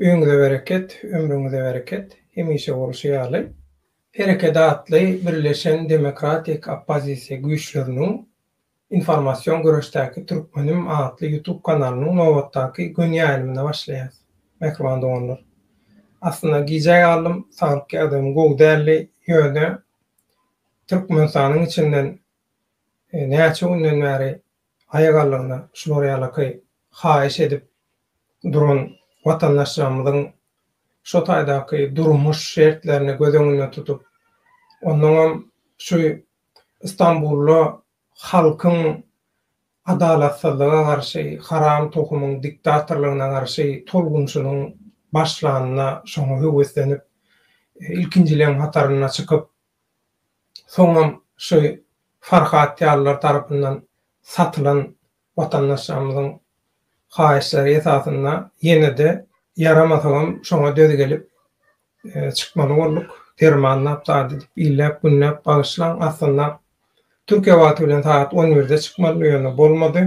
Öýüňize bereket, ömrüňize bereket, hemişe bolşy ýaly. Hereket atly birleşen demokratik oppozisiýa güýçleriniň Informasion göreşdäki türkmenim atly ýutub kanalynyň nobatdaky göni ýaýlymyna başlaýas, mähriban doganlar. Aslynda gijä galdym, saglyk ýagdaýym gowy däldi, ýöne Türkmenistanyň içinden näçe günden bäri aýagallygyna şular ýalaky haýyş edip duran watandaşlarymyzyň şu taýdaky durmuş şertlerini göz öňünde tutup, onnoňam şu Stambulda halkyň adalatsyzlyga garşy, haram tohumyň diktatorlygyna garşy tolgunyşynyň başlanyna şoňa höweslenip, ilkinjileriň hatarynda çykyp, soňam şu Farhat ýalylar tarapyndan satylan Watandaşlarymyzyň haýyşlary esasynda ýene-de ýaramasa-m şoňa döz gelip çykmaly bolduk. Dermanlap zat edip, illäp-günläp bagyşlaň. Aslynda Türkiýe wagty bilen sagat on birde çykmalydy, ýöne bolmady.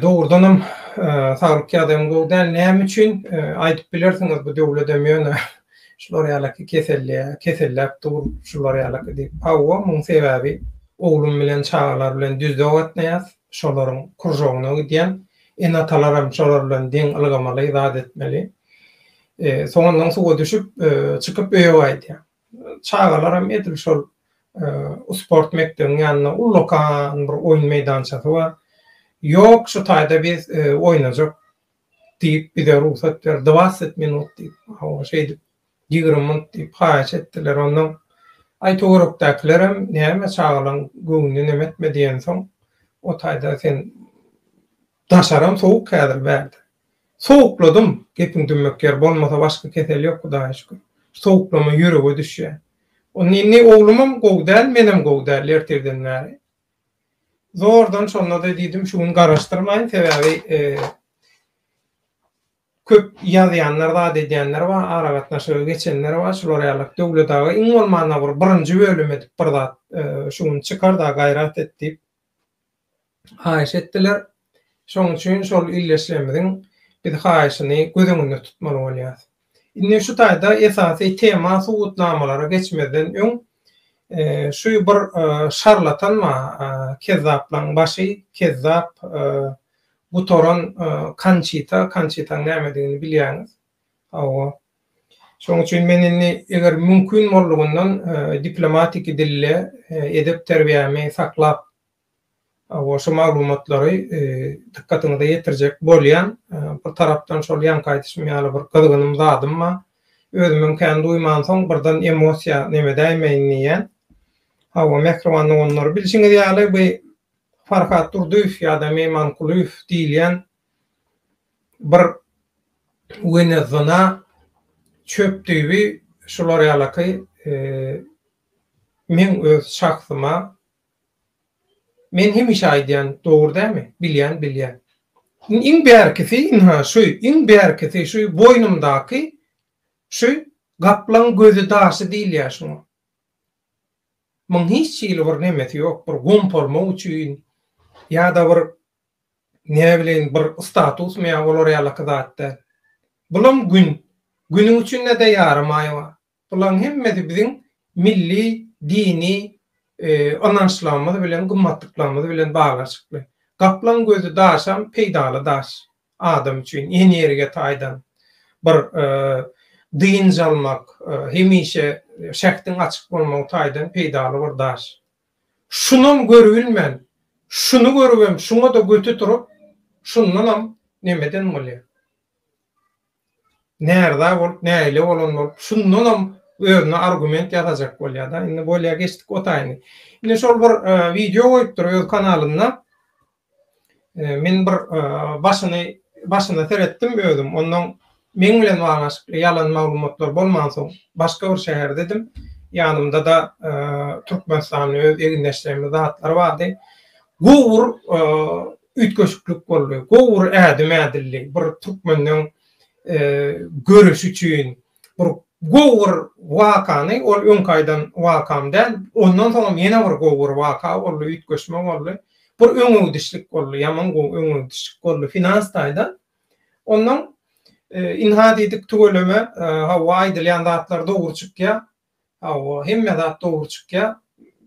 Dogrudanam saglyk ýagdaýym gowy däl. Näme üçin? Aýdyp bilersiňiz, bu döwledem ýöne Şular ýalaky keselliä keselläp dur şular ýalaky diýip. Hawa muň sebäbi oglum bilen çagalar bilen düzde gatnaýas şolaryň kuržogyna gidýän ene atalaram şolar bilen deň ylgamaly zat etmeli. Soňundan suwa düşüp çykyp öýe gaýdýan. Çagalaram edil şol sport mekdebiň ýanynda ullakan bir oýun meýdançasy bar. Ýok şu taýda biz oýnajak diýip, bize rugsat ber, dwaset minut diýip, hawa, şeýdip, ýigrimi minut diýip, haýyş etdiler. Onsoň, aý, töwerekdäkilerem, näme, çagalaň göwnüne neme etme diýensoň, o taýda sen daşaram sowuk häzir bärde. Sowukladym, gepiň dümmek ýeri bolmasa, başga kesel ýok, Hudaýa şükür. Sowuklama ýürege düşýär. Onda indi oglumam gowy däl, menem gowy däl ertirden bäri. Zordan şonda-da diýdim, şu gün garaşdyrmaýyn, sebäbi köp ýazýanlar, zat edýänler bar, aragatnaşyga geçenler bar, şular ýaly. Döwlet aga iň bolmanda bir birinji bölüm edip bir zat şu gün çykar-da, gaýrat et diýip haýyş etdiler. Şonuň üçin şol ildeşlerimiziň biz haýyşyny göz öňünde tutmaly bolýarys. Indi şu taýda esasy tema subutnamalara geçmezden öň şu bir şarlatan bar, kezzaplaň başy, kezzap, gutaran Konçita, Konçitaň nämedigini bilýäňiz. Hawa. Şonuň üçin men indi eger mümkin boldugyndan diplomatiki dilde edep terbiýämi saklap Goşa maglumatlary dykgatyňyza ýetirjek bolýan. Bir tarapdan şol ýaňky aýdyşym ýaly bir gyzgynym zadym bar. Özümem kän duýmansoň birden emosiýa neme däýmeýin diýýän. Hawa mähriban doganlar bilşiňiz ýaly bu Farhat Durdyýew ýa-da Meýman Kulyýew diýilýän bir wenezona çöp düýbi şular ýalaky meň öz şahsyma Men hemişe aýdýan dogry dämi? Bilýän bilýän. Iň bärkisi ynha şu, iň bärkisi şu boýnumdaky şu gaplaň gözi daşy diýilýär şuňa. Muň hiç hili bir nemesi ýok, bir gompolma üçin ýa-da bir näbileýin bir statusmy ýa olar ýalaky zat däl. Bulam gün, günüň üçin-de ýaramaýwa. Bularyň hemmesi biziň milli, dini ynançlarymyz bilen, gymmatlyklarymyz bilen baglanyşykly. Gaplaň gözi daşam peýdaly daş. Adam üçin energiýa taýdan, bir dynç almak, hemişe şähdiň açyk bolmagy taýdan peýdaly bir daş. Şunam görübilmän, şuny görübem, şuňa-da göti turup, şundanam nemeden bolýar? närza bolup nägile bolan bolup şundanam özüne argument ýasajak bolýada indi bolýa geçdik o taýyny indi şol bir wideo goýupdyr öz kanalynda men bir başyny başyna seretdim özüm onnoň meň bilen baglanyşykly ýalan maglumatlar bolmansoň başga bir şäherdedim ýanymdada türkmenistanly öz egindeşlerimiz zatlar bardy Gowur üýtgeşiklik boldy. Gowur ädim ädildi. Bir türkmeniň göreşi üçin bir gowur wakany, ol öňki aýdan wakam däl, ondan soňam ýene bir gowur waka boldy, üýtgeşme boldy. Bir öňegidişlik boldy, ýaman gowy öňegidişlik boldy finans taýdan. Ondan ynha diýdik tüweleme, hawa aýdylýan zatlar dogry çykýar. Hawa, hemme zat dogry çykýa.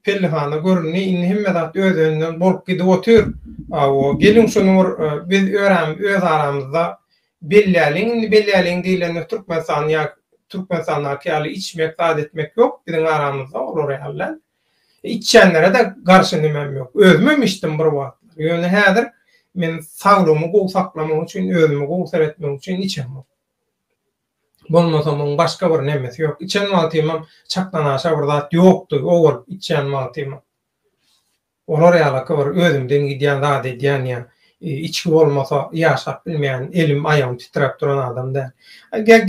Pellehana göründi, indi hemme zat öz-özünden bolup gidip otyr. Hawa, geliň şuny bir biz öz aramyzda bellälin, indi bellälin diýlende Türkmenistan ýa Türkmenistandaky ýaly içmek, zat etmek ýok biziň aramyzda olar ýaly däl. Içýänlere-de garşy nimem ýok. Özümem içdim bir wagtlar. Ýöne häzir men saglygymy gowy saklamak üçin, özümi gowy seretmek üçin içemok. Bolmasa muň başga bir nemesi ýok. Içen wagtymam çakdanaşa bir zat ýokdy, o bolup içýän wagtymam. Olar ýalaky bir özümden gidýän zat edýän ýa içgi bolmasa ýaşap bilmeýän, elim, aýagym titräp duran adam däl.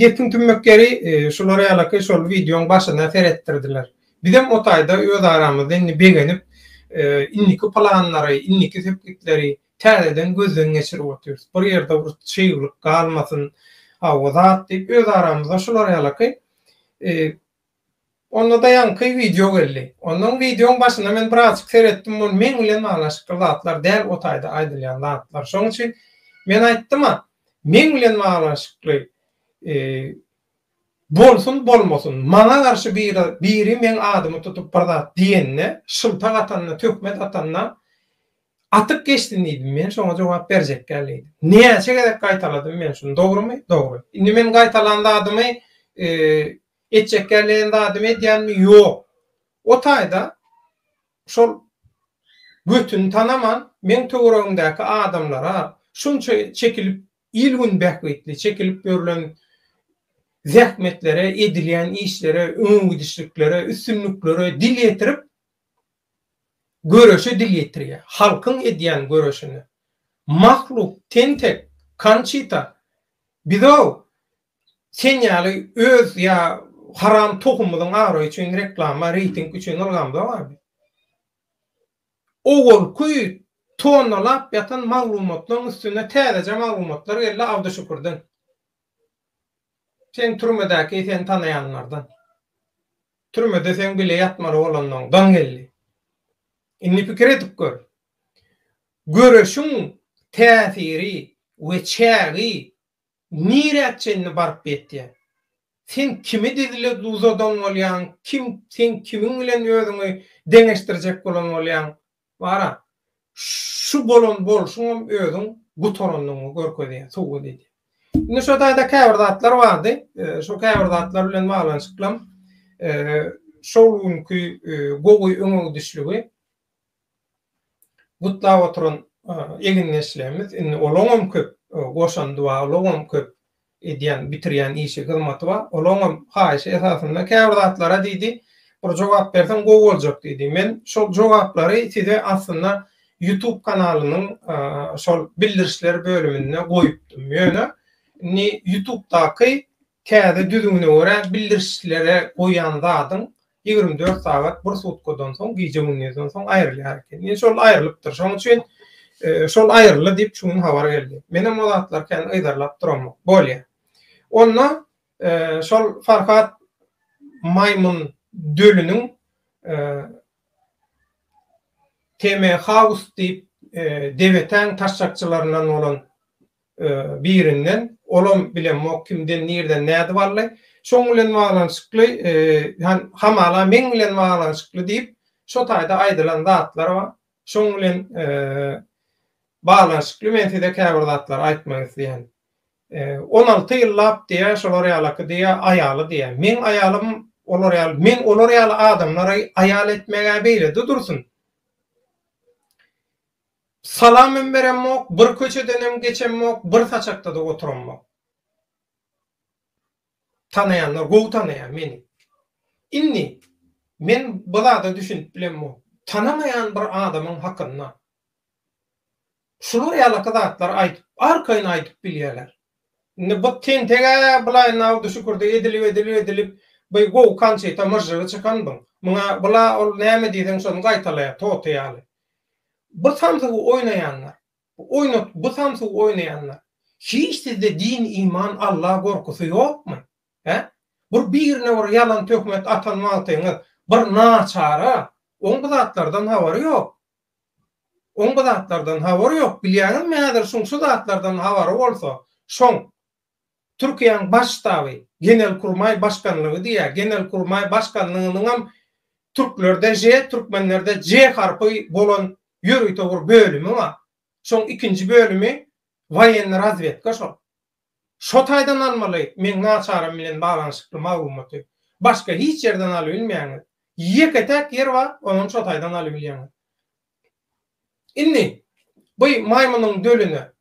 Gepiň tümmek ýeri, şular ýalaky şol wideoň başyna seretdirdiler. Bizem o taýda öz aramyzda indi begenip, indiki planlary, indiki sepgitleri Täzeden gözden geçirip otyrys. Bir ýerde bir çyglyk galmasyn, hawa zat diýip öz aramyzda şular ýalaky Onda da ýaňky wideo geldi. Ondan wideoň başynda men birazjyk seretdim, bul meň bilen baglaşykly zatlar däl, o taýda aýdylýan zatlar. Şoň üçin men aýtdym-a, meň bilen baglaşykly bolsun, bolmasyn, maňa garşy biri, biri meň adymy tutup bir zat diýende, şyltak atanda, töhmet atanda, Atyp geçdin diýdim men şoňa jogap berjekgäl diýdim. Näçe gezek gaýtaladym men şuny dogrymy? Dogry. Indi men gaýtalan zadymy etjek gelýän zadymy edýänmi? Ýok. O taýda şol götüni tanaman meň töweregimdäki adamlara şunça çekilip il gün bähbitli çekilip ýörlen zähmetlere edilýän işlere öňegidişliklere üstünliklere dil ýetirip göreşe dil ýetirýär. Halkyň edýän göreşine. Mahluk, tentek, Konçita, biz-ow, sen ýaly öz ýa haram tohumymyzyň abraýy üçin reklama, reýting üçin ylgamzok-a biz. Owalky tonnalap ýatan maglumatlaryň üstüne täzeje maglumatlar geldi Abduşükürden. Sen türmedäki seni tanaýanlardan. Türmede seň bile ýatmaly bolanlaň daň geldi. Indi pikir edip gör. Göreşiň täsiri we çägi nirä çenli baryp ýetýär? Sen kimi dizle duzadan bolýaň, kim sen kimiň bilen özüňi deňeşdirjek bolan bolýaň, Bara, şu bolan bolşuňam özüň gutarandygyňy görkezýär, subut edýär. Indi şo taýda käbir zatlar bardy. Şo käbir zatlar bilen baglanyşyklam şol günki gowy öňegidişligi gutlap oturan egindeşlerimiz, indi olaňam köp goşan dualy, olaňam köp Edýän, bitirýän işi, hyzmaty bar. Ol oňam haýyşy esasynda käbir zatlara diýdi, Bir jogap berseň gowy boljak diýdi. Men şol jogaplary size aslynda YouTube kanalynyň şol bildirişler bölüminde goýupdym. Ýöne indi YouTube-daky täze düzgüne görä bildirişlere goýan zadyň Ýigrimi dört sagat bir sutkadan soň, gije-gündizinden soň aýrylýar eken. Indi şol aýrylypdyr. Şonuň üçin şol aýryldy diýip şu gün habar geldi. Menem o zatlary kän yzarlap duramok. Bolýa. Onda şol Farhat maýmyn dölüniň TM House diýip debetäň taşşakçylaryndan bolan birinden, olam bilemok kimden nirden nädip aldy, şoň bilen baglanyşykly hamala meň bilen baglanyşykly diýip şo taýda aýdylan zatlar bar. Şoň bilen baglanyşykly men size käbir zatlary aýtmak isleýän. On alty ýyllap diýýär şolar ýalaky diýýär aýaly diýýär. Meň aýalym olar ýaly men olar ýaly adamlary aýal etmegä beýlede dursun. Salamym beremmok, bir köçedenem geçemmok, bir saçakda-da oturammok. Tanaýanlar gowy tanaýar meni. Indi, men bu zada düşünip bilemmok. Tanamaýan bir adamyň hakynda şular ýalaky zatlary aýdyp, arkaýyn aýdyp bilýärler. Indi bu tenteg-ä bulaýyn awdy şükürdi, edilip, edilip, edilip, bu gowy konçita myžžygy çykan buň. Muňa bula ol näme diýseň şony gaýtalaýar, toty ýaly. Bu samsygy oýnaýanlar, bu oýnat bu samsygy oýnaýanlar, hiç sizde din, iman, Alla gorkusy ýokmy? Hä? Bir birine bir ýalan töhmet atan wagtyňyz bir naçara, oň bu zatlardan habary ýok. Oň bu zatlardan habary ýok. Bilýäňizmi häzir şoň şu zatlardan habary bolsa, şoň Türkiýäň Baş ştaby, Genelkurmaý başkanlygy diýýär. Genelkurmaý başkanlygynyňam türklerde ž, türkmenlerde j harpy bolan ýörite bir bölümi bar. Şoň ikinji bölümi Woýenna razwedka şol. Şo taýdan almaly meň naçaram bilen baglanyşykly maglumaty. Başga hiç ýerden alybilmeýäňiz. Ýeke-täk ýer bar, onam şo taýdan alybilýäňiz. Indi, bu maýmynyň dölüne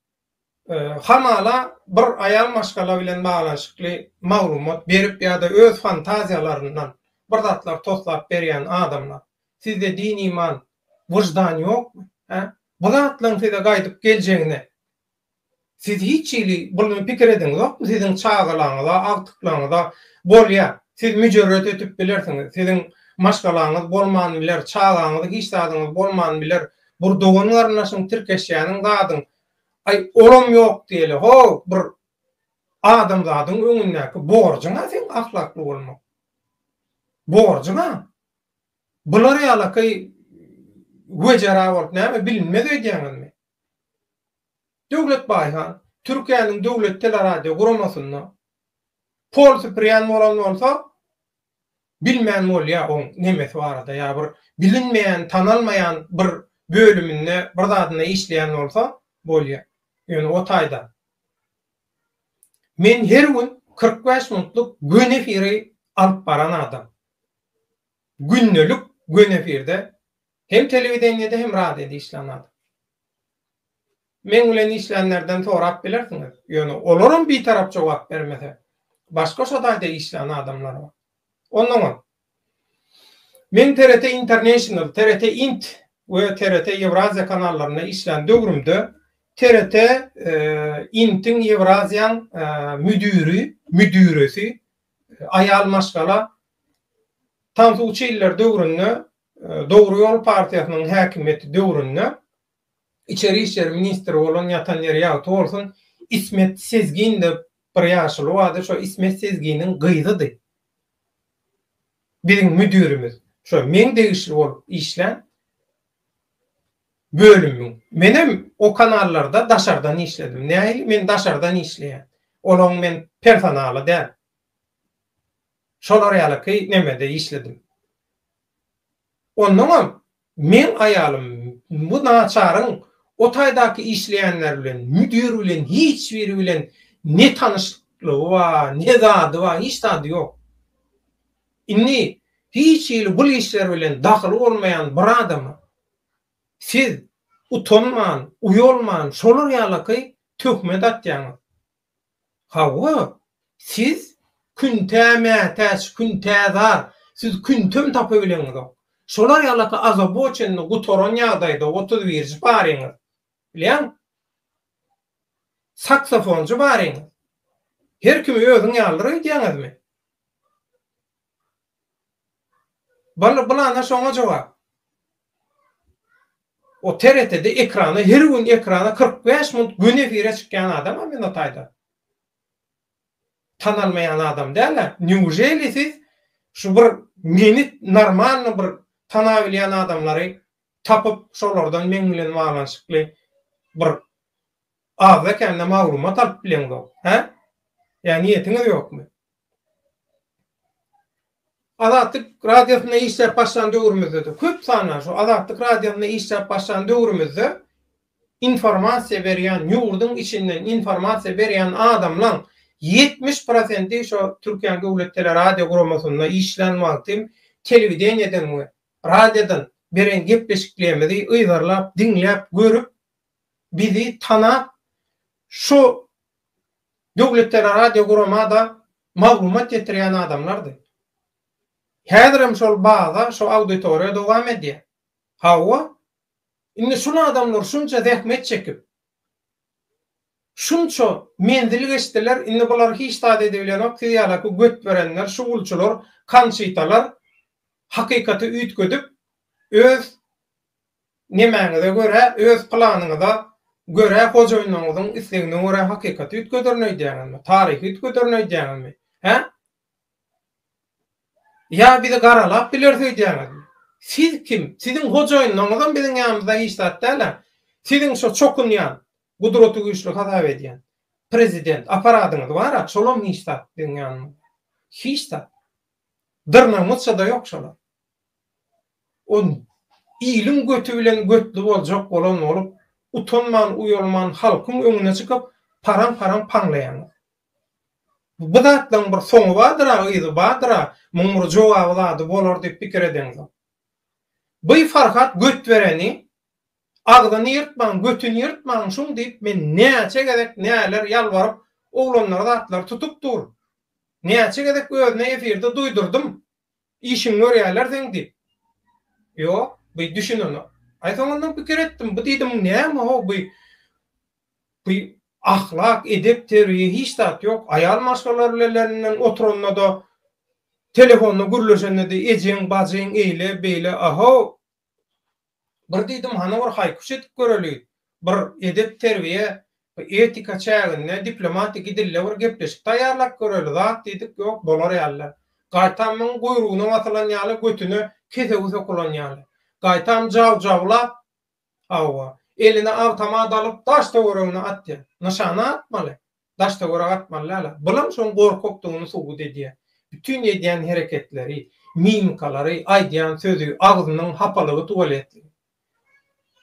hamala bir aýal maşgala bilen baglanyşykly maglumat berip ýa-da öz fantaziýalaryndan bir zatlar toslap berýän adamlar. Sizde din-iman, wyždan ýokmy, hä? Bu zatlaryň size gaýdyp geljegine siz hiç hili buny pikir ediňizokmy? Siziň çagalaryňyza, agtyklaryňyza bolýar. Siz müjerret ötüp bilersiňiz. Siziň maşgalaňyz bolman biler, çagaňyz, hiç zadyňyz bolman biler. Bir dogan-garyndaşyň tirkeşýäniň zadyň, aý, olam ýok diýeli, ho, bir adamzadyň öňündäki borjuň-a seň ahlakly bolmak. Borjuň-a. Bular ýalakaý wejera bolup näme bilinmez öýdýäňizmi? Döwlet Baýhan, Türkiýäniň döwlet teleradioguramosynda pol süpürýän bolan bolsa, bilmän bolýa oň nemesi barada ýa bir bilinmeýän tanalmaýan bir bölüminde bir zadynda işleýän bolsa bolýa ýöne o taýdan men her gün kyrk bäş minutlyk gün efiri alyp baran adam gündelik gün efirde Hem telewideniýede hem radioda işlän adam. Meň bilen işlänlerden sorap bilersiňiz. Ýöne olaram bitarap jogap bermese, başga şo taýda işlän adamlar bar. Onnoňam Men TRT International, TRT Int we TRT Ýewraziýa kanallarynda işlän döwrümde TRT Intiň Ýewraziýaň müdiri, müdiresi aýal maşgala Tansu Çiller döwründe Dogry ýol partiýasynyň häkimiýeti döwründe içeri işler ministri bolan ýatan ýeri ýagty bolsun Ismet Sezgin dep bir ýaşuly bardy şo Ismet Sezginiň gyzydy biziň müdirimiz şo meň degişli bolup işlän bölümüň menem o kanallarda daşardan işledim nähili men daşardan işleýän olaň men personaly däl şolar ýalyky nemede işledim Onnoňam meň aýalym bu naçaryň o taýdaky işleýänler bilen, müdir bilen hiç biri bilen ne tanyşlygy bar, ne zady bar, hiç zady ýok. Indi hiç hili bul işler bilen dahyly bolmaýan bir adama siz utanman, uýalman şolar ýalaky töhmet atýaňyz. Hawa, siz küntä mätäç, küntä zar, siz küntäm tapabileňizok. Şolar ýalaka azaboçenni gutaran ýagdaýda otuz birji baryňyz, bilýäň? Saksofonjy baryňyz. Her kimi özüň ýalydyr öýdýäňizmi? Bal bylana şoňa jogap. O TRT-de ekrana her gün ekrana kyrk bäş minut gün efire çykýan adama men o taýda tanalmaýan adam däl-ä. Neujeli siz şu bir meni normalny bir tanabilýän adamlary tapyp şolardan meň bilen baglanyşykly bir Azda kände maglumat alyp bileňzok, hä? Ýa niýetiňiz ýokmy? Azatlyk radiosynda işläp başlan döwrümizde-de köp sandan şu Azatlyk radiosynda işläp başlan döwrümizde informasiýa berýän ýurduň içinden informasiýa berýän adamlaň ýetmiş prosenti şo Türkiýäň döwlet teleradio guramasynda işlän wagtym telewideniýeden we radiodan beren gepleşiklerimizi yzarlap diňläp görüp bizi tanap, şu döwletara radio guramada maglumat ýetirýän adamlardy. Häzirem şol baza, şu auditoriýa dowam edýär. Hawa, indi şul adamlar şunça zähmet çekip, şunça menzil geçdiler, indi bular hiç zat edibilenok, siz ýalaky götberenler, şugulçylar, kanşitalar hakykaty üýtgedip, öz Nemäňize görä, öz planyňyza görä hojaýynlaryňyzyň islegine görä hakykaty üýtgederin öýdýäňizmi? Taryhy üýtgederin öýdýäňizmi? Hä? Ýa bizi garalap bileris öýdýäňizmi? Siz kim? Siziň hojaýynlaryňyzam biziň ýanymyzda hiç zat däl-ä. Siziň şo çokunýan, gudraty güýçli hasap edýän prezident aparadyňyz bar-a, şolam hiç zat biziň ýanymyzda. Hiç zat. Dyrnagymyzça-da ýok şolar. Ol iliň göti bilen götli boljak bolan bolup, utanman-uýalman halkyň öňüne çykyp, paraň-paraň paňlaýaňyz. Bu zatlaryň bir soňy bardyr-a, yzy bardyr-a, muň bir jogaby zady bolar diýip pikir edeňizok. By Farhat Götbereni, Agzyny ýyrtmaň, götüni ýyrtmaň şuň diýip, men näçe gezek näler ýalbaryp, oglanlara zatlar tutup dur. Näçe gezek özüne efirde duýdurdym. Işiňi görýärler seň diýip. Ýok, bu düşünenok. Aý soň ondan pikir etdim, bu diýdim näme ho bu? Bu ahlak, edep, terbiýe hiç zat ýok. Aýal maşgala bilen oturanda-da, telefonda gürleşende-de ejeň, bajyň eýle, beýle, aho, Bir diýdim, hany bir haýkyş edip göreli, bir edep-terbiýe, etika çäginde diplomatiki dilde bir gepleşik taýýarlap göreli, zat diýdik, ýok, bolar ýaly. Gaýtam muň guýrugyna basylan ýaly, götüne kesegi sokulan ýaly. Gaýtam jaw-jawlap, hawa, eline awtomat alyp daş-töweregine atýar. Nyşana atmaly. daş-töwerek atmaly däl-ä. Bulam şoň gorkakdygyny subut edýär. Bütin edýän hereketleri, mimikalary, aýdýan sözi, agzynyň hapalygy tuwaletligi.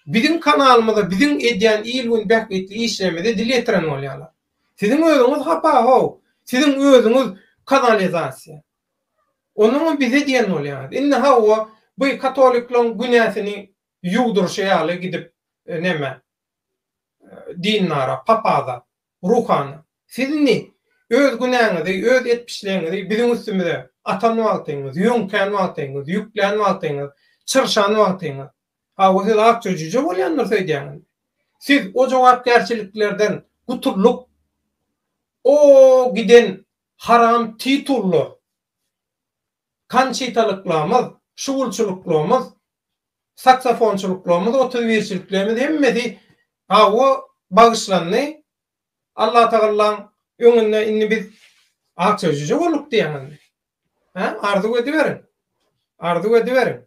Biziň kanalymyza, biziň edýän il-gün bähbitli işlerimize dil ýetiren bolýarlar. Siziň özüňiz hapa-how, siziň özüňiz kanalizasiýa. Onuňam bize diýen bolýaňyz. Indi hawa, bu katolikleň günäsini ýuwdurşy ýaly gidip, näme, dindara, papaza, ruhana, Siz indi öz günäňizi, öz etmişligiňizi biziň üstümize atan wagtyňyz, ýöňkän wagtyňyz, ýüklän wagtyňyz, çyrşan wagtyňyz, hawa, siz akja jüje bolýandyrs öýdýäňiz. Siz o jogapkärçiliklerden gutulyp, o giden haram titullar, kançitalyklarymyz, şugulçylyklaymyz saksafonçylyklarymyz otuz birçiliklerimiz hemmesi hawa bagyşlandy Allatagallaň öňünde indi biz akja jüje bolduk diýäň indi hä arzuw ediberiň arzuw ediberiň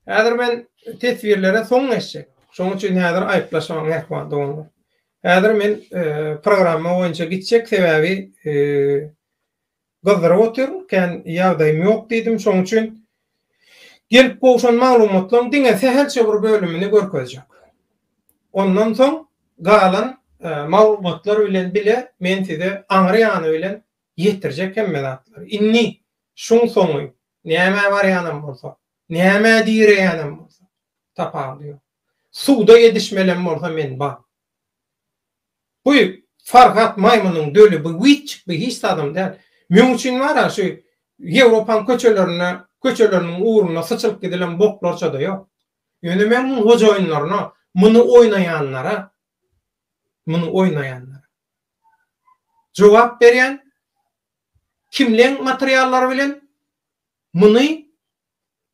häzir men teswirlere soň geçjek şoň üçin häzir aýyplaşmaň mähriban doganlar häzir men programma boýunça gitjek sebäbi Gyzdyryp otyr, kän ýagdaýym ýok diýdim, şoň üçin gelip gowşan maglumatlaryň diňe sähelçe bir bölümini görkezjek. Ondan soň galan maglumatlar bilen bile men size aňry ýany bilen ýetirjek hemme zatlary. Indi şuň soňy, nämä barýanam bolsa, nämä direýänem bolsa, tapawudy ýok. Suwda edişmelem bolsa men bar. Guý, Farhat maýmynyň döli bu witçik bu hiç zadam däl. Meň üçin bar-a şu Ýewropaň köçelerinde, köçeleriniň ugrunda syçylyp gidilen boklarça-da ýok. Ýöne men muň hojaýynlaryna, muny oýnaýanlara, muny oýnaýanlara jogap berýän, kimleň materiallary bilen muny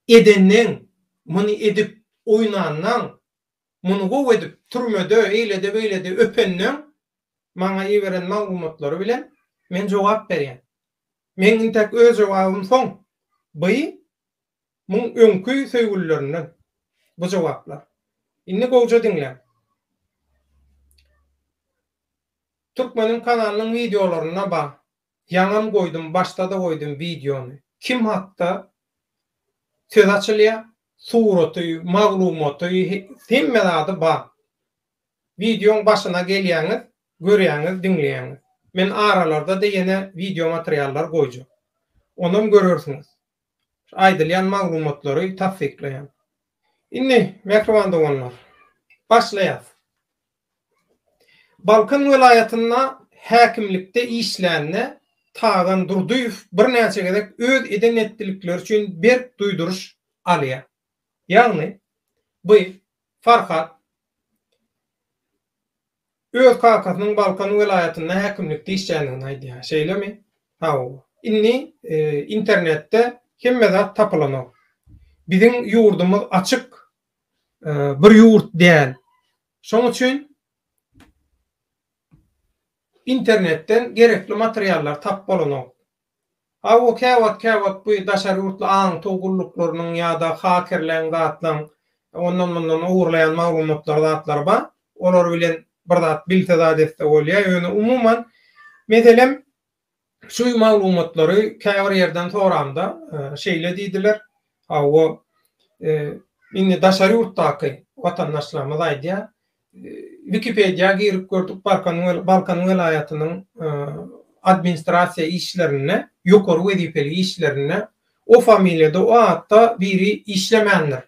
edenleň, muny edip oýnanlaň, Muny gowy edip, türmede, eýlede, beýlede öpendeň, maňa iberen maglumatlary bilen men jogap berýän. Meň intäk öz jogabym soň, by muň öňki söýgülilerinden bu jogaplar. Indi gowja diňläň. Türkmeniň kanalynyň wideolarynda bar. Ýaňam goýdum başdada goýdum wideony. Kim hakda söz açylýa suraty maglumaty hemme zady bar. Wideoň başyna gelýäňiz görýäňiz diňleýäňiz. Men aralarda da ýene wideo materiallar goýjak. Onam görersiňiz. Aýdylýan maglumatlary tassyklaýan. Indi mähriban doganlar başlaýas. Balkan welaýatynda häkimlikde işlände Tagan Durdyýew birnäçe gezek öz eden etdilikleri üçin berk duýduryş alýar. Ýagny, by Farhat öz kakasynyň Balkan welaýatynda häkimlikde işländigini aýdýar, şeýlemi? Hawa. Indi internetde hemme zat tapylanok. Biziň ýurdumyz açyk bir ýurt däl. Şoň üçin internetden gerekli materiallar tap bolanok. Hawa, käwagt-käwagt bu daşary ýurtly aňtaw gulluklarynyň ýa-da hakerleň zatlaň ondan-mundan ogurlaýan maglumatlary zatlary bar. Olar bilen bir zat bilse zat etse bolýar. Ýöne umuman, meselem, Şu maglumatlary käbir ýerden soranda, şeýle diýdiler, Hawa, indi daşary ýurtdaky watandaşlarymyz aýdýar, Wikipediýa girip gördük, Balkan welaýatynyň administrasiýa işlerinde, ýokary wezipeli işlerinde o familiýada, o atda biri işlemändir.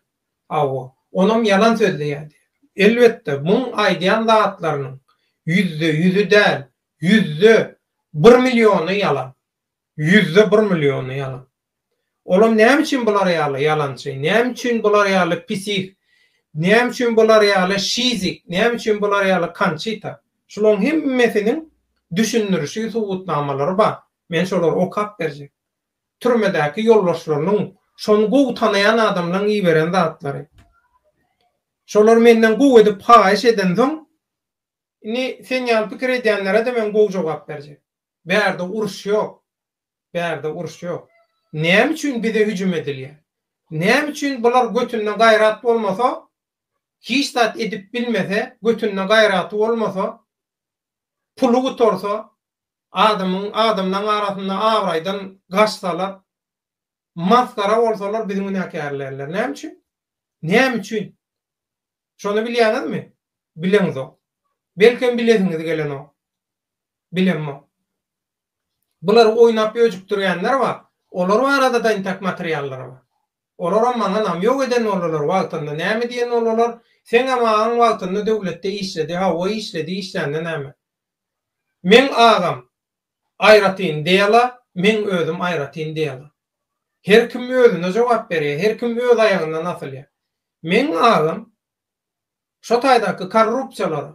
Hawa, onam ýalan sözleýär diýýär. Elbetde, muň aýdýan zatlarynyň ýüzde ýüzi däl, Ýüzde bir milliony ýalan. Ýüzde bir milliony ýalan. Olam näme üçin bular ýaly ýalançy, näme üçin bular ýaly pisih, näme üçin bular ýaly şizik, näme üçin bular ýaly Konçita? Şulaň hemmesiniň düşündirişi, subutnamalary bar. Men şolary okap berjek. Türmedäki ýoldaşlarynyň, şony gowy tanaýan adamlaryň iberen zatlary. Şolar menden gowy edip haýyş edensoň, Indi sen ýaly pikir edýänlere-de men gowy jogap berjek. Bärde uruş ýok. Bärde uruş ýok. Näme üçin bize hüjüm edilýär? Näme üçin bular götünde gaýrat bolmasa, hiç zat edip bilmese, götünde gaýraty bolmasa, puly gutarsa, adamyň, adamlaryň arasynda abraýdan gaçsalar, masgara bolsalar bizi günäkärleýärler? Näme üçin? Näme üçin? Şony bilýäňizmi? Bileňizok. Belkem bilesiňiz gelenok. Bilemok. Bulary oýnap öjükdirýänler bar. Olar barada-da intäk materiallar bar. Olaram maňa namýok eden boldular wagtynda. Näme diýen boldular, Seňem agaň wagtynda döwletde işledi, hawa işledi, işlände näme? Meň agam Aýratyn dela, meň özüm aýratyn dela. Her kim özüne jogap berýär, her kim öz aýagyndan asylýar. Meň agam şo taýdaky korrupsiýalary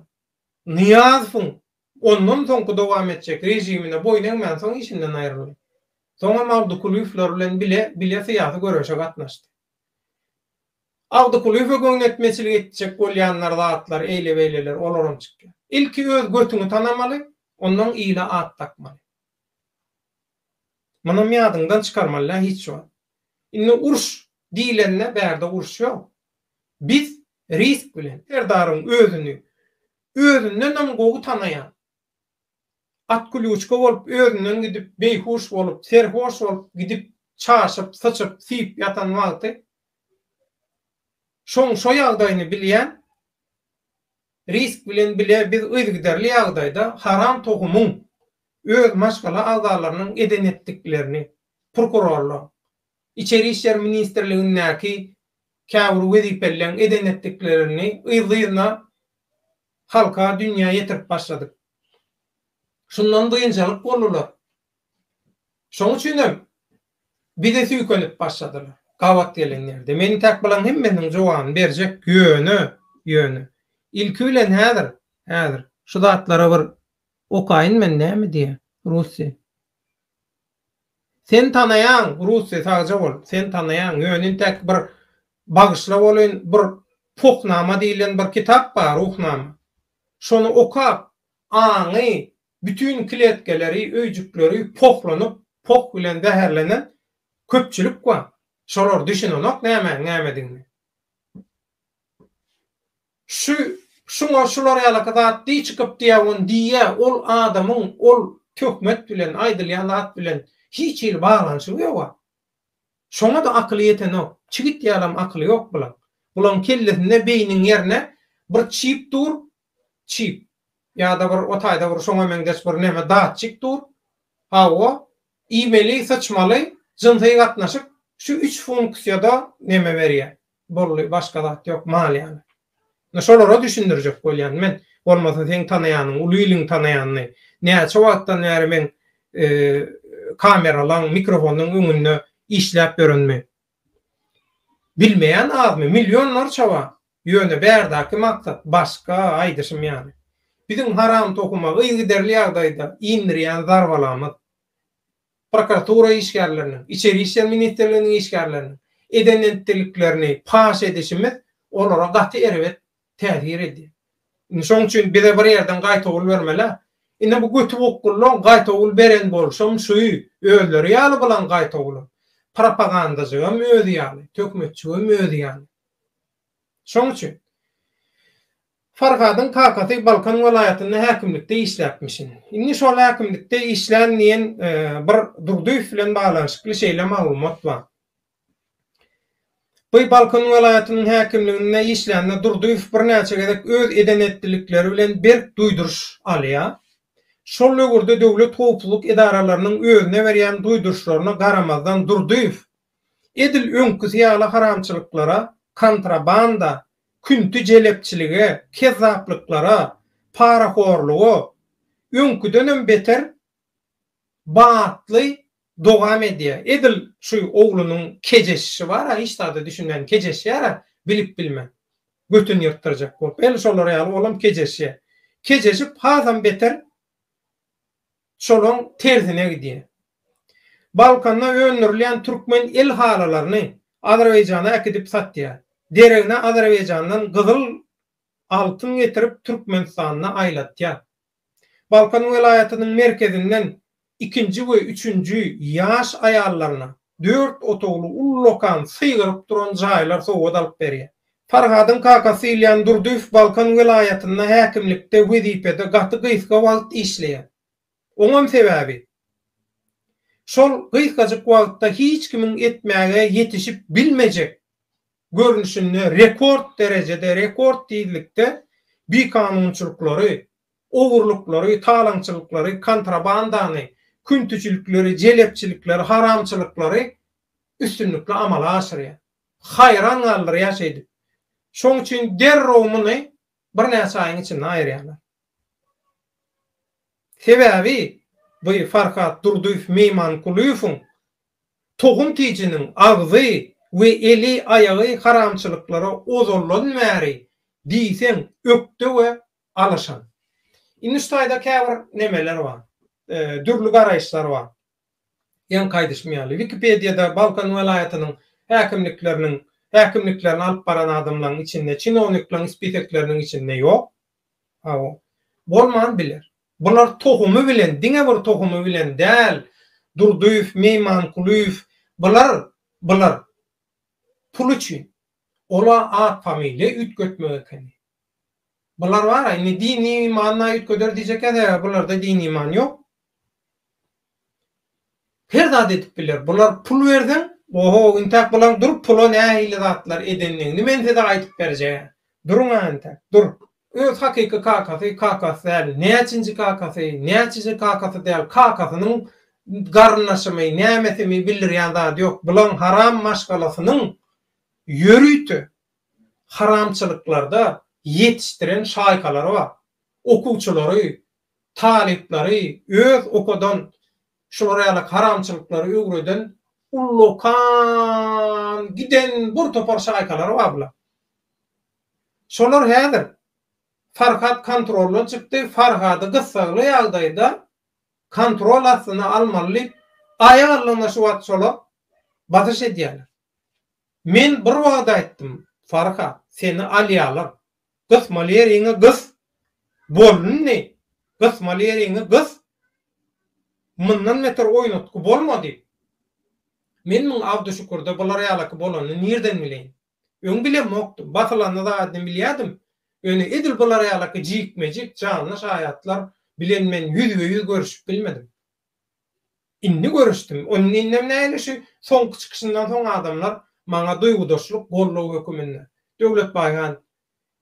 Nyýazowyň ondan soňky dowam etjek režimine boýun egmänsoň işinden aýryldy. Soňam Abdukulyýewler bilen bile bile syýasy göreşe gatnaşdy. Abdykulyýewe göwnetmeçilik etjek bolýanlar zatlar eýle-beýleler olaram çykýar. Ilki öz götüňi tanamaly, ondan ile at dakmaly. Munam ýadyňdan çykarmalydä hiç wagt. Indi uruş diýlende bärde uruş ýok. Biz risk bilen. Serdaryň özüni özündenem gowy tanaýan. Otklýuçka bolup özünden gidip, beýhuş bolup, serhoş bolup gidip, çaşyp, syçyp, syp ýatan wagty, şoň şo ýagdaýyny bilýän, Risk bilen bile biz yzygiderli ýagdaýda haram tohumyň öz maşgala agzalarynyň eden-etdiklerini, prokurorlaň, Içeri işler ministrligindäki käbir wezipelileň eden-etdiklerini yzly-yzyna halka dünýä ýetirip başladyk. Şundan biynjalyk boldular. Şoň üçinem bize süýkenip başladylar. Gabat gelenlerde. Men tek bulaň hemmesiniň jogany berjek. Ýöne, ýöne. Ilki bilen häzir, häzir. Şu zatlary bir okaýyn men näme diýýä, rusça. Sen tanaýaň Russi sagja bol sen tanaýaň ýöne intäki bir bagyşla bolyn bir Pohnama diýilen bir kitap bar Ruhnama şony okap aňy bütin kletkeleri öýjükleri pohlanyp poh bilen zäherlenen köpçülik bar şolar düşünenok nämäň nämedigine. Şu, şuňa şular ýalaky zat diý çykyp diýýä on diýýä ol adamyň ol töhmet bilen, aýdylýan zat bilen hiç hili baglanyşygy ýoga. Şoňada akyly ýetenok. Çigit ýalam akyly ýok bulaň. Bulaň kellesinde beýniň ýerne bir çip dur, çip. Ýada bir o taýda bir şoňa meňzeş bir neme datçik dur. Hawa, iýmeli, syçmaly, jynsy gatnaşyk şu üç funksiýada neme berýä. bolly başga zat ýok mal ýaly indi şolara düşündirjek bolýan men bolmasa seň tanaýanyň uly iliň tanaýanyny näçe wagtdan bäri meň kameralaň mikrofonyň öňünde işläp ýörenimi bilmeýän azmy millionlarça bar ýöne bärdäki maksat başga aýdyşym ýaly biziň haram tohuma yzygiderli ýagdaýda indirýän zarbalamyz prokuratura işgärleriniň, Içeri işler ministrliginiň işgärleriniň eden entdikliklerini paş edişimiz olara gaty erbet täsir edýär. Indi şoň üçin bize bir ýerden gaýtawul bermel-ä. Ine bu götübokgullaň gaýtawul beren bolşam şu özleri ýaly bulan gaýtawulam. Propagandajygam özi ýaly, töhmetçigem özi ýaly. Şoň üçin Farhadyň kakasy Balkan welaýatynda häkimlikde işläpmişin. Indi şol häkimlikde işlän diýen bir Durdyýew bilen baglanyşykly şeýle maglumat bar. Bu Balkan welaýatynyň häkimliginde işlände Durdyýew birnäçe gezek öz eden-etdilikleri bilen berk duýduryş alýar. Şol döwürde döwlet howpsuzlyk edaralarynyň özüne berýän duýduryşlaryna garamazdan Durdyýew edil öňküsi ýaly haramçylyklara, kontrabanda, Künti jelepçilige, kezzaplyklara, parahorluga öňküdenem beter batly dogam edýär. Edil şu oglunyň kejeşişi bar-a, hiç zada düşünmän kejeşýär-ä, bilip-bilmän. Götüni ýyrtdyrjak bolup. Ene şolar ýaly olam kejeşýär. Kejeşip, hasam beter şolaň tersine gidýär. Balkanda öndürilýän türkmen el halylaryny Azerbaýjana äkidip satýar. Deregine Azerbaýjandan gyzyl altyn getirip Türkmenistanda aýlatýar. Balkan welaýatynyň merkezinden ikinji we üçünji ýaş aýallaryna dört otagly ullakan sygyryp duran jaýlar sowgat alyp berýär. Farhadyň kakasy Ilýan Durdyýew Balkan welaýatynda häkimlikde wezipede gaty gysga wagt işleýär. Oňam sebäbi, şol gysgajyk wagtda hiç kimiň etmäge ýetişip bilmejek görnüşinde rekord derejede, rekord tizlikde bikanunçylyklary, ogurlyklary, talaňçylyklary, kontrabandany, küntüjilikleri, jelepçilikleri, haramçylyklary üstünlikli amala aşyrýar. haýran galdyrýar şeýdip. Şoň üçin derrew muny birnäçe aýyň içinde aýyrýarlar. Sebäbi bu Farhat Durdyýew Meýmankulyýewiň tohum-tijiniň agzy we eli-aýagy haramçylyklara ozaldan bäri diýseň ökde we alyşan. Indi şu taýda käbir nemeler bar, dürli garaýyşlar bar. Ýaňky aýdyşym ýaly, Wikipediýada Balkan welaýatynyň häkimlikleriniň häkimliklerini alyp baran adamlaryň içinde, çinowniklaryň spisekleriniň içinde ýok. Hawa, bolman biler. Bular tohumy bilen, diňe bir tohumy bilen däl, Durdyýew, Meýmankulyýew, bular, bular pul üçin, ola at-familiýa üýtgetmek ekeni. Bular bar-a, indi dini manyna üýtgeder diýjekkäs, eger bularda dini many ýok. Her zat edip biler. Bular pul berseň, oho, intäk bulaň durup pula nähili zatlar edendigini men size aýdyp berjegä. Duruň-a intäk, dur. Öz hakyky kakasy, kakasy däl, näçinji kakasy, näçiji kakasy däl, kakasynyň garyndaşymy, nämesimi bildirýän zady ýok. Bulaň haram maşgalasynyň ýörite haramçylyklarda ýetişdiren şaýkalary bar. Okuwçylary, talyplary öz okadan şular ýaly haramçylyklary öwreden ullakan giden bir topar şaýkalary bar bular. Şolar häzir Farhat kontroldan çykdy, Farhady gyssagly ýagdaýda kontrol astyna almaly diýip aýak alnygyna şu wagt şolar basyş edýärler. Men bir wagt aýtdym, Farhat, seni alýalar. Gysmaly ýeriňi gys! Bol indi! Gysmaly ýeriňi gys! Mundan beter oýnatgy bolma! diýip. Men muň Abduşükürde bular ýalaky bolanyny nirden bileýin? Öň bilemokdym. Basylanda zadini bilýärdim. Ýöne edil bular ýalaky jikme-jik, janly şaýatlar bilen men ýüzbe-ýüz görüşip bilmedim. Indi görüşdim. Ony innem näli şu soňky çykyşyndan soň adamlar maňa duýgudaşlyk goldaw höküminde. Döwletbaý han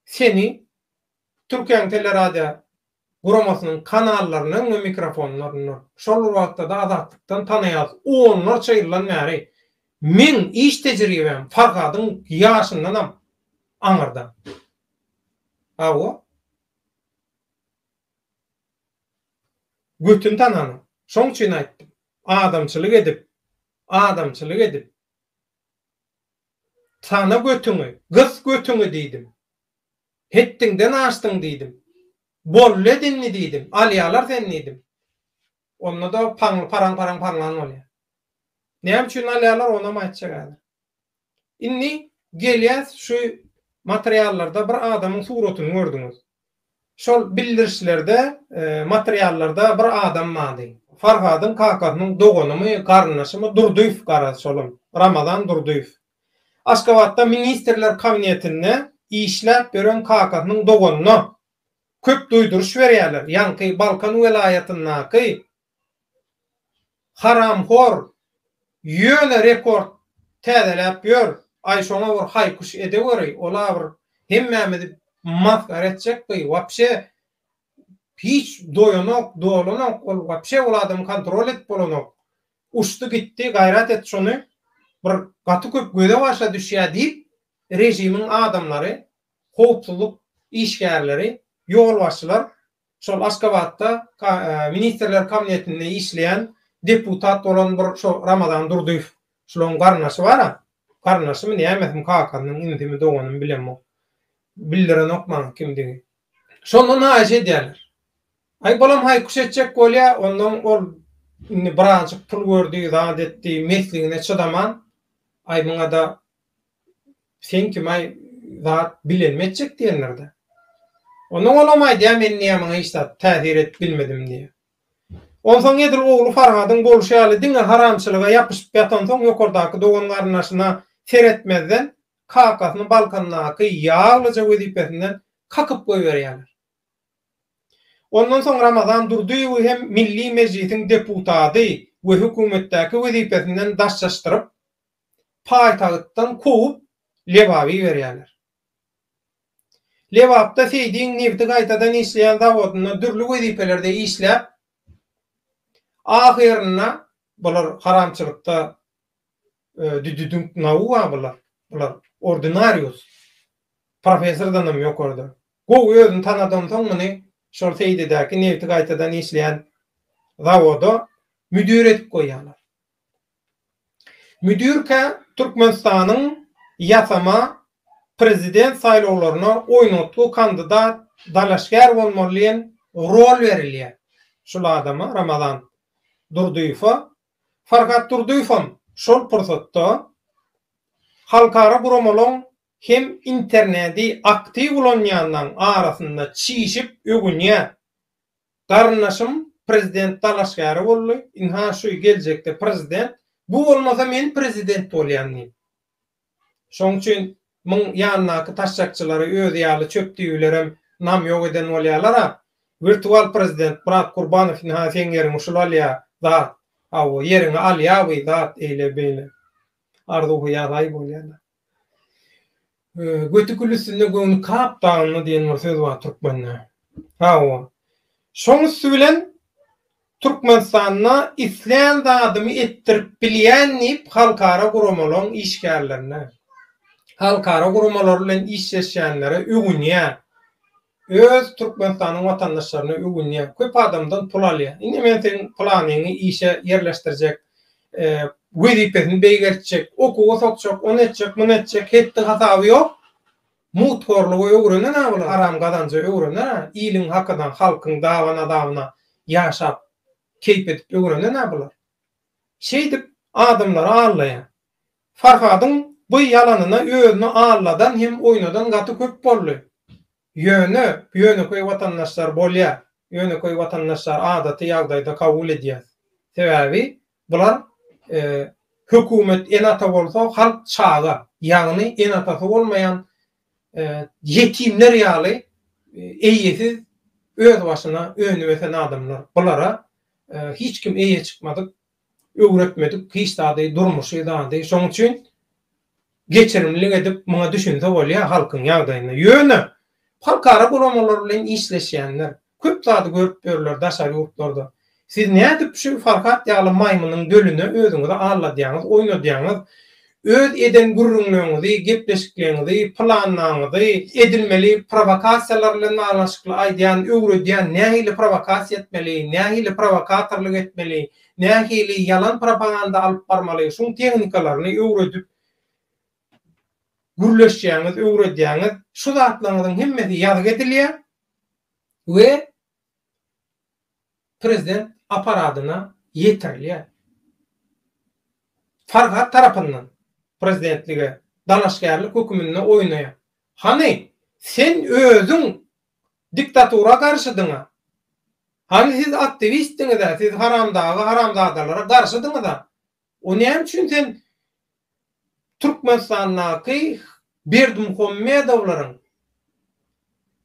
seni Türkiýäň teleradio guramasynyň kanallarynyň we mikrofonlaryndan, şol bir wagtda-da Azatlykdan tanaýarys. Onlarça ýyldan bäri meň iş tejribäm Farhadyň ýaşyndanam aňyrda. Hawa. Götün tananyň. Şoň üçin aýtdym. Adamçylyk edip, adamçylyk edip. Tana götüňi, gys götüňi diýdim. Hetdiňden aşdyň diýdim. Bollet indi diýdim. Alýalar seni diýdim. Onda-da paňly paraň-paraň-paraňlan bolýar. Näme üçin alýalar, onam aýtjak häzir. Indi gelýäs şu materiallarda bir adamyň suratyny gördüňiz. Şol bildirişlerde, materiallarda bir adam bardy. Farhadyň kakasynyň doganymy, garyndaşymy Durdyýew garaz şolam, Ramazan Durdyýew. Aşgabatda ministrler kabinetinde işläp ýören kakasynyň doganyna köp duýduryş berýärler, ýaňky Balkan welaýatyndaky Haramhor ýöne rekord täzeläp ýör aý şoňa bir haýkyş edeweri ola bir hemmämizi masgara etjek by wapşe hiç doýanok dolanok ol wapşe ol adamy kontrol edip bolanok uçdy gitdi gaýrat et şony bir gaty köp göze başa düşýä diýip režimiň adamlary howpsuzlyk işgärleri ýolbaşçylar Şol Aşgabatda Ministrler kabinetinde işleýän deputat bolan bir şo Ramazan Durdyýew şulaň garyndaşy bar-a. Garyndaşymy, nämesimi, kakasynyň inisimi, doganymy bilemok. Bildirenok maňa kimdigi. Şondan haýyş edýärler. Aý, bolam haýkuş etjek bolýa, onnoň ol indi birazajyk pul gördi, zat etdi, mesligine çydaman, aý, muňa-da Sen kimaý zat bilenmi etjek diýenlerde. Ondan olam aýdýar men niýemiňe hiç zat täsir edip bilmedim diýýär. Onsoň edil ogly Farhadyň bolşy ýaly diňe haramçylyga ýapyşyp ýatansoň ýokardaky dogan-garyndaşyna seretmezden kakasyny balkandaky ýaglyja wezipesinden kakyp goýberýärler. Ondan soň Ramazan Durdyýewi hem Milli Mejlisiň deputady we hökümetdäki wezipesinden daşlaşdyryp, paýtagtdan kowup, Lebaba iberýärler. Lebapda Seýdiň nebiti gaýtadan işleýän zawodynda dürli wezipelerde işläp, ahyrynda bular haramçylykda düdüdüňknaua bular, bular ordinarius, professordanam ýokarda. Gowy özüni tanadansoň muny şol Seýdidäki nebiti gaýtadan işleýän zawoda müdir edip goýýarlar. Müdirkä Türkmenistanyň ýasama prezident saýlawlaryna oýnatgy kandidat dalaşgär bolmaly diýen rol berilýär. Şul adama, Ramazan Durdyýewe. Farhat Durdyýewem şol pursatda halkara guramalaryň hem internedi aktiw ulanýanlaryň arasynda çişip öwünýär. Garyndaşym prezident dalaşgäri boldy, ynha şu geljekde prezident, bu bolmasa men prezident bolýan diýip. Şoň üçin muň ýanyndaky taşşakçylary özi ýaly çöp düýbilerem namýok eden bolýalar-a. Wirtual prezident Myrat Gurbanow ynha seň ýeriňi şul alýa, zat. Hawa, ýeriňi alýa bu zat eýle-beýle. Arzuw-hyýal-aý bolýalar. Göti gül üstünde göwni kap dagynda diýen bir söz bar türkmende. Hawa. Şoň üsti bilen Türkmenistanda islän zadymy etdirip bilýän diýip halkara guramalaryň işgärlerine, halkara guramalary bilen işleşýänlere öwünýär. Öz Türkmenistanyň watandaşlaryna öwünýä, köp adamdan pul alýa. Indi men seň pylanyňy işe ýerleşdirjek, wezipesini beýgeltjek, okuwa sokjak, ony etjek, muny etjek, hetdi hasaby ýok. Muthorlugy öwrener-ä bular, haram gazanjy öwrener-ä, iliň hakyna, halkyň daban-azabyna ýaşap, keýp edip öwrener-ä bular. Şeýdip adamlary aldaýar. Farhadyň bu ýalanyna özüni alladan hem oýnadan gaty köp boldy. Ýöne, ýönekeý watandaşlar bolýa, ýönekeý watandaşlary adaty ýagdaýda kabul edýäs. Sebäbi, bular hökümet ene-ata bolsa, halk çaga, ýagny ene-atasy bolmaýan ýetimler ýaly eýesiz, özbaşyna önüp-ösen adamlar. Bulara hiç kim eýe çykmadyk, Öwretmedik hiç zady durmuşy zady şoň üçin geçirimlilik edip muňa düşünse bolýa halkyň ýagdaýyna ýöne halkara guramalar bilen işleşýänler köp zady görüp ýörler daşary ýurtlarda siz nädip şu farhat ýaly maýmynyň dölüne özüňizi alladýaňyz oýnadýaňyz Öz eden gürrüňleriňizi, gepleşikleriňizi, planlaryňyzy, edilmeli prowokasiýalar bilen baglanyşykly aýdýan, öwredýän, nähili prowokasiýa etmeli, nähili prowokatorlyk etmeli, nähili ýalan propaganda alyp barmaly, şuň tehnikalaryny öwredip gürleşýäňiz, öwredýäňiz. Şu zatlaryňyzyň hemmesi ýazgy edilýär we prezident apparatyna ýetirilýär. Farhat tarapyndan prezidentlige dalaşgärlik höküminde oýnaýar. Hany, sen özüň diktatura garşydyň-a? Hany siz aktiwistdiňiz-ä, siz haramdaga-haramzadalara garşydyňyz-a? O näme üçin sen Türkmenistandaky Berdimuhamedowlaryň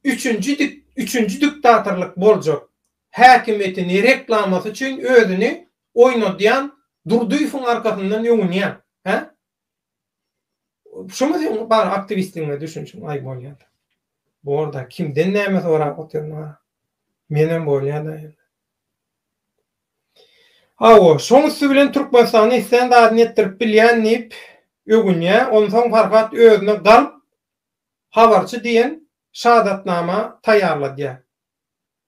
üçünji üçünji diktatorlyk boljak häkimiýetini reklamasy üçin özüni oýnadýan Durdyýewiň arkasyndan öwünýäň, hä? Şumy seň bar aktiwistligiňe düşünişiň, aý bolýada. Bor-da, kimden näme sorap otyryň-a? Menem bolýada indi. Hawa, şoň üsti bilen Türkmenistanda islän zadyny etdirip bilýän diýip öwünýä, onsoň Farhat özüne Galp habarçy diýen şahadatnama taýýarladýa.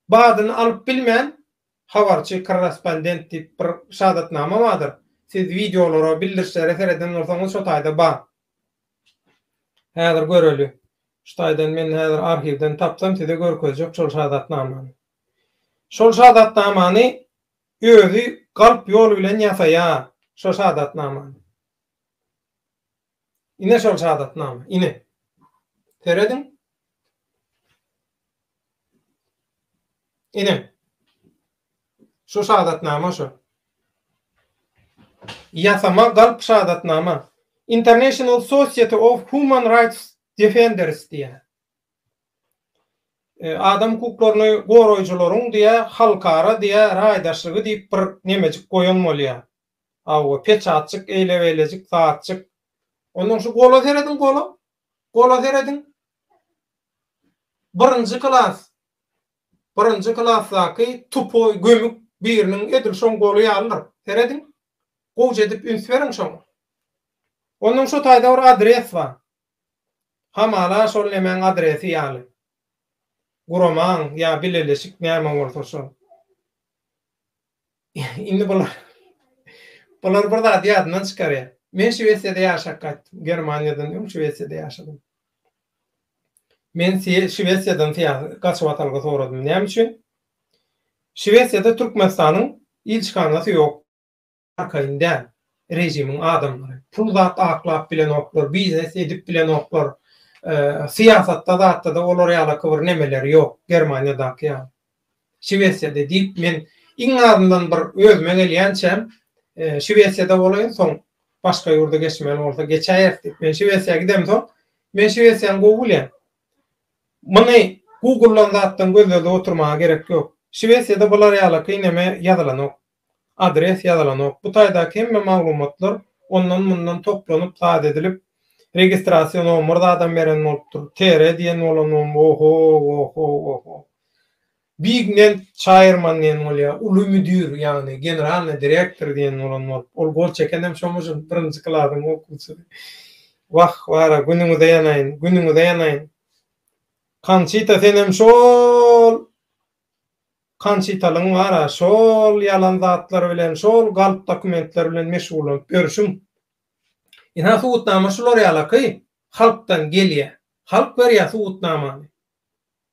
Badyny alyp bilmän, habarçy korrespondent diýip bir şahadatnama bardyr, siz wideolara, bildirişlere sereden bolsaňyz şo taýda bar. Häzir göreli. Şu taýdan men häzir arhiwden tapsam size görkezjek şol şahadatnamany. Şol şadatnamany özi galp ýol bilen ýasaýar, şo şadatnamany. Ine şol şadatnama, ine. Serediň. Ine. Şu şadatnama şu. Ýasama galp şadatnama. International Society of Human Rights Defenders diýär. Adam hukuklaryny goraýjylaryň diýä halkara diýä raýdaşlygy diýip bir nemejik goýan bolýa. Awa peçatjyk eýle beýlejik zatjyk. Ondan şu gola serediň gola. Gola serediň. Birinji klas. Birinji klasdaky tupoý gömük biriniň edil şoň goly ýalydyr. Serediň. Gowja edip üns beriň şoňa. Ondan şu taýda bir adres bar. Hamala şol nemäň adresi ýaly. Guramaň ýa bileleşik näme bolsa şol. Indi bular bular bir zady ýadyndan çykarýar. Men Şwesiýada ýaşap gaýtdym. Germaniýadan öň Şwesiýada ýaşadym. Men Şwesiýadan gaçyp atalga soradym. Näme üçin? Şwesiýada Türkmenistanyň ilçihanasy ýok. Arkaýyn däl režimiň adamlary. Pul zat aklap bilenoklar, biznes edip bilenoklar. Syýasatda zatda-da olar ýalaky bir nemeleri ýok, Germaniýadaky ýaly. Şwesiýada diýip men iň azyndan bir özüme gelýänçä Şwesiýada bolaýyn, soň başga ýurda geçmeli bolsa geçäýeris diýip, men Şwesiýa gidemsoň, men Şwesiýany gowy bilýän. Muny Google-dan zatdan gözledi oturmaga gerek ýok. Şwesiýada bular ýalaky neme ýazylanok. Adres ýazylanok. Bu taýdaky hemme maglumatlar ondan mundan toplanyp zat edilip registrasiýa nomer zadam beren bolupdyr. Tere diýen bolanmyň oho oho oho. Big nen çaýyrman diýen bolýa uly müdir ýagny generalny direktor diýen bolan bolup ol gol çekenem şo mujyň birinji klasyň okuwçysy. Wah wara günüňize ýanaýyn günüňize ýanaýyn. Kançita senem şol. Kançitalyň bar-a, şol ýalan zatlar bilen, şol galp dokumentler bilen meşgullanyp ýörşüň. Ynha, subutnama şular ýalaky, halkdan gelýär. Halk berýär subutnamany.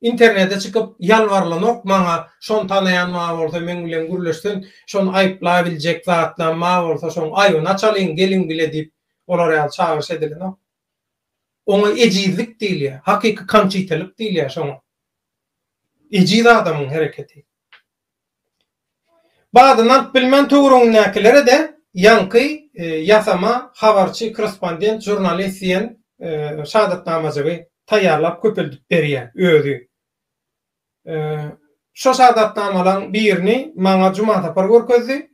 Internete çykyp ýalbarylanok maňa, şony tanaýan bar bolsa, meň bilen gürleşsin, şony aýyplabiljek zatlam bar bolsa, şoň aýbyny açalyň, geliň bile diýip, olar ýaly çagyryş edilenok. Oňa ejizlik diýilýär, hakyky kançitalyk diýilýär şoňa. Ejiz adamyň hereketi. Badyny alyp bilmän töweregindäkilere-de ýaňky ýasama habarçy, korrespondent, žurnalist diýen şadatnamajygy taýýarlap köpeldip berýär özi. Şo şadatnamalaň birini maňa Jumasapar görkezdi.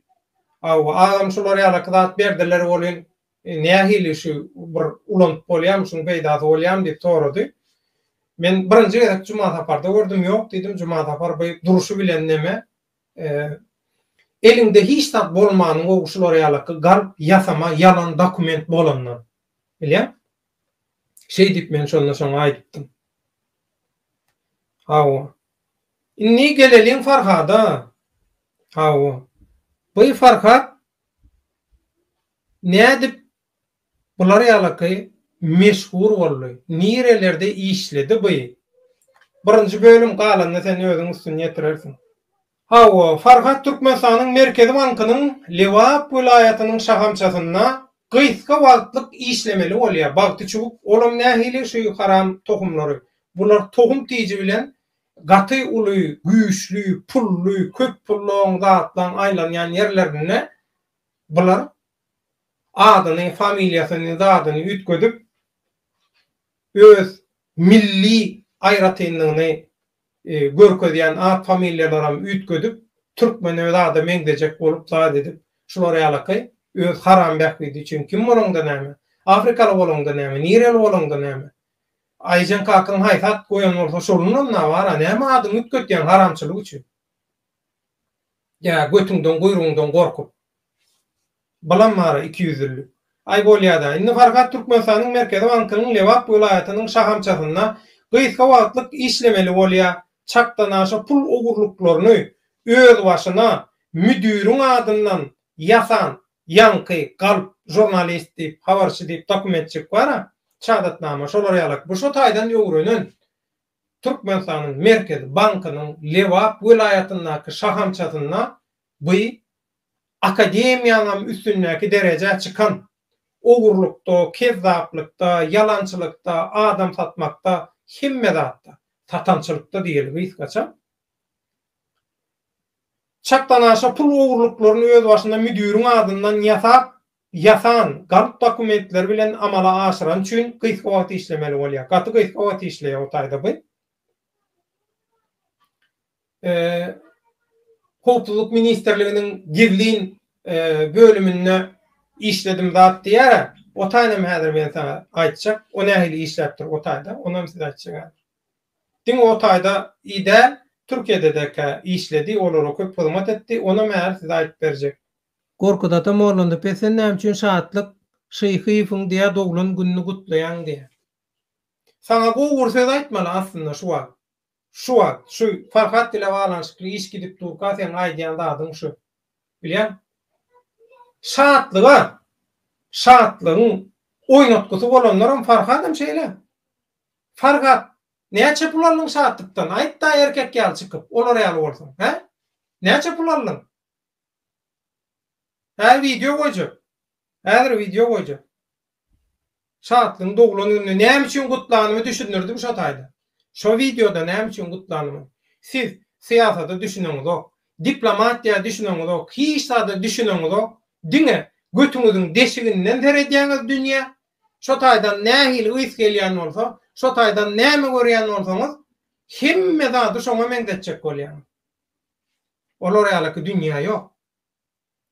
Hawa, agam şular ýalaky zat berdiler welin, Nähili şu bir ulanyp bolýamy, şuň peýdasy bolýamy diýip sorady. Men birinji gezek Jumasaparda gördüm, ýok diýdim, Jumasapar bu durşy bilen neme, eliňde hiç zat bolmanyň gowy şular ýalaky galp ýasama ýalan dokument bolandan. Bilýäň? Şeý diýip men şonda şoňa aýdypdym. Hawa. Indi geleliň Farhada. Hawa. Bu Farhat Nädip bular ýalaky meşhur boldy? Nirelerde işledi by? Birinji bölüm galanyny sen özüň üstün ýetirersiň. Hawa, Farhat Türkmenistanyň Merkezi bankynyň Lebap welaýatynyň şahamçasynda gysga wagtlyk işlemeli bolýar. Bagty çüwük, olam nähili şu haram tohumlary. Bular tohum tiji bilen gaty uly, güýçli, pully, köp pullaň, zatlaň aýlanýan ýerlerinde Bular adyny, familiýasyny, zadyny üýtgedip, öz milli aýratynlygyny görkezýän at-familiýalaram üýtgedip, türkmeni öz ada meňzejek bolup zat edip, şular ýalaky öz haram bähbidi üçin kim bolaňda näme, afrikaly bolaňda näme, nireli bolaňda näme? Aýjyn kakyň haýsy at goýan bolsa şolunam-a bar-a, näme adyňy üýtgetýäň haramçylyk üçin? Ýa götüňden guýrugyňdan gorkup. Bylam bara iki ýüzlülik. Aý bolýada. Indi Farhat Türkmenistanyň Merkezi bankynyň Lebap welaýatynyň şahamçasynda gysga wagtlyk işlemeli bolýa. Çakdanaşa pul ogurlyklaryny özbaşyna müdiriň adyndan ýasan ýaňky galp žurnalist diýip habarçy diýip dokumentjik bara. Çadatnama şolar ýalak. Bu şo taýdan öwrenen. Türkmenistanyň Merkezi bankynyň Lebap welaýatyndaky şahamçasynda bu Akademiýaňam üstündäki derejä çykan, ogurlykda, kezzaplykda, ýalançylykda, adam satmakda, hemme zatda, satançylykda diýeli gysgaça, çakdanaşa pul ogurlyklaryny özbaşyna müdiriň adyndan ýasap, ýasan, galp dokumentleri bilen amala aşyrany üçin gysga wagt işlemeli bolýar. Gaty gysga wagt işleýär o taýda bu. Howpsuzlyk ministrliginiň gizlin bölüminde işledim zat diýýär. O taýda hem häzir men saňa aýtjak. O nähili işläp dur o taýda, ony hem size aýtjak häzir. Diňe o taýda i däl, Türkiýede-de kä işledi, olara köp hyzmat etdi, onam häzir size aýdyp berjek. Gorkut ata mollandy pes sen näme üçin şatlyk şyhyýewiň diýä doglan gününi gutlaýaň diýä. Saňa gowy bir söz aýtmaly aslynda şu wagt. Şu wagt, şu Farhat bile baglanyşykly iş gidip durka seň aýdýan zadyň şu. Bilýäň? Şatlyga şatlygyň oýnatgysy bolanlaram Farhadam şeýle. Farhat näçe pul aldyň şatlykdan aýt-da erkek ýaly çykyp olar ýaly bolsaň, hä? Näçe pul aldyň? Häzir wideo goýjak. Häzir wideo goýjak. Şatlyň doglan gününi näme üçin gutlanymy düşündirdim şo taýda. Şo wideoda näme üçin gutlanymy. Siz syýasada düşüneňizok. Diplomatiýa düşüneňizok. Hiç zada düşüneňizok. Diňe götüňiziň deşiginden seredýäňiz dünýä. Şo taýdan nähili ys gelýän bolsa, şo taýdan näme görýän bolsaňyz, hemme zady şoňa meňzetjek bolýaňyz. Olar ýalyky dünýä ýok.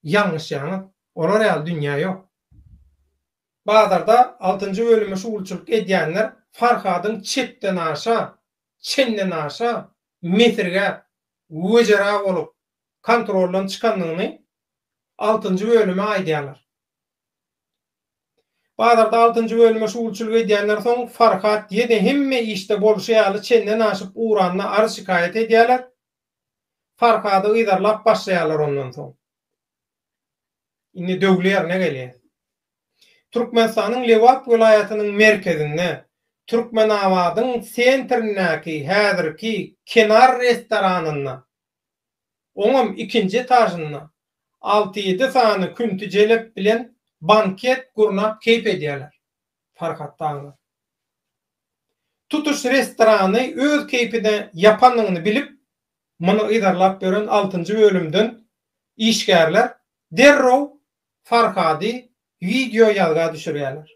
Ýalňyşýaňyz. Olar ýaly dünýä ýok. Bazarda altynjy bölüme şugulçylyk edýänler Farhadyň çetdenaşa, çendenaşa mesirgäp, wejera bolup, kontroldan çykandygyny altynjy bölüme aýdýarlar. Bazarda altynjy bölüme şugulçylyk edýänler soň Farhat ýene hemme işde bolşy ýaly çenden aşyp uranyna arz-şikaýat edýärler. Farhady yzarlap başlaýarlar ondan soň. Indi döwli ýerine gelýäs. Türkmenistanyň Lebap welaýatynyň merkezinde, Türkmenabadyň sentrindäki häzirki Kenar restoranynda Oňam ikinji etažynda alty-ýedi sany künti jelep bilen banket gurnap keýp edýärler Farhat daglar. Tutuş restorany öz keýpine ýapanyny bilip, muny yzarlap ýören altynjy bölümden işgärler derrew Farhady Wideo ýazga düşürýärler.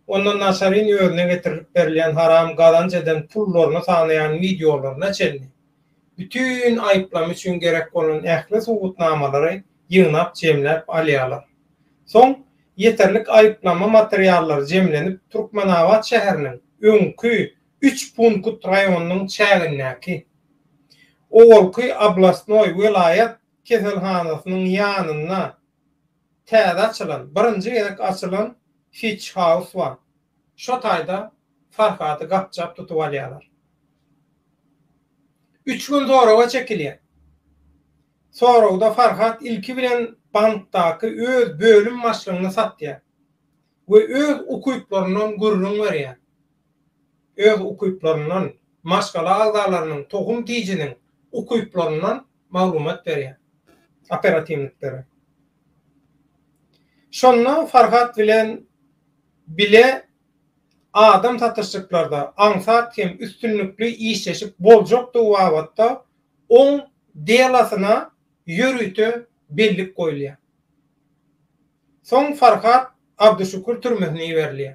Onda Nasarin özüne getirilip berilýän haram gazanç eden pullaryny sanaýan wideolaryna çenli, bütin aýyplama üçin gerek bolan ähli subutnamalary ýygnap jemläp alýarlar. Soň ýeterlik aýyplama materiallary jemlenip Türkmenabat şäheriniň öňki üç punkt raýonynyň çägindäki, owalky oblastnoý, welaýat, keselhanasynyň ýanynda täze açylan, birinji gezek açylan Fitch House bar. Şo taýda Farhady gapjap tutup alýarlar. Üç gün soraga çekilýär. Soragda Farhat ilki bilen bankdaky öz bölüm başlygyny satýar we öz ukyplaryndan gürrüň berýär. Öz ukyplaryndan, maşgala agzalarynyň, tohum-tijiniň ukyplaryndan maglumat berýär. Operatiwnikleri. Şonda Farhat bilen bile adam satyşyklarda aňsat hem üstünlikli işleşip boljakdygy babatda oň delosyna ýörite bellik goýulýar. Soň Farhat Abduşükür türmesine iberilýär.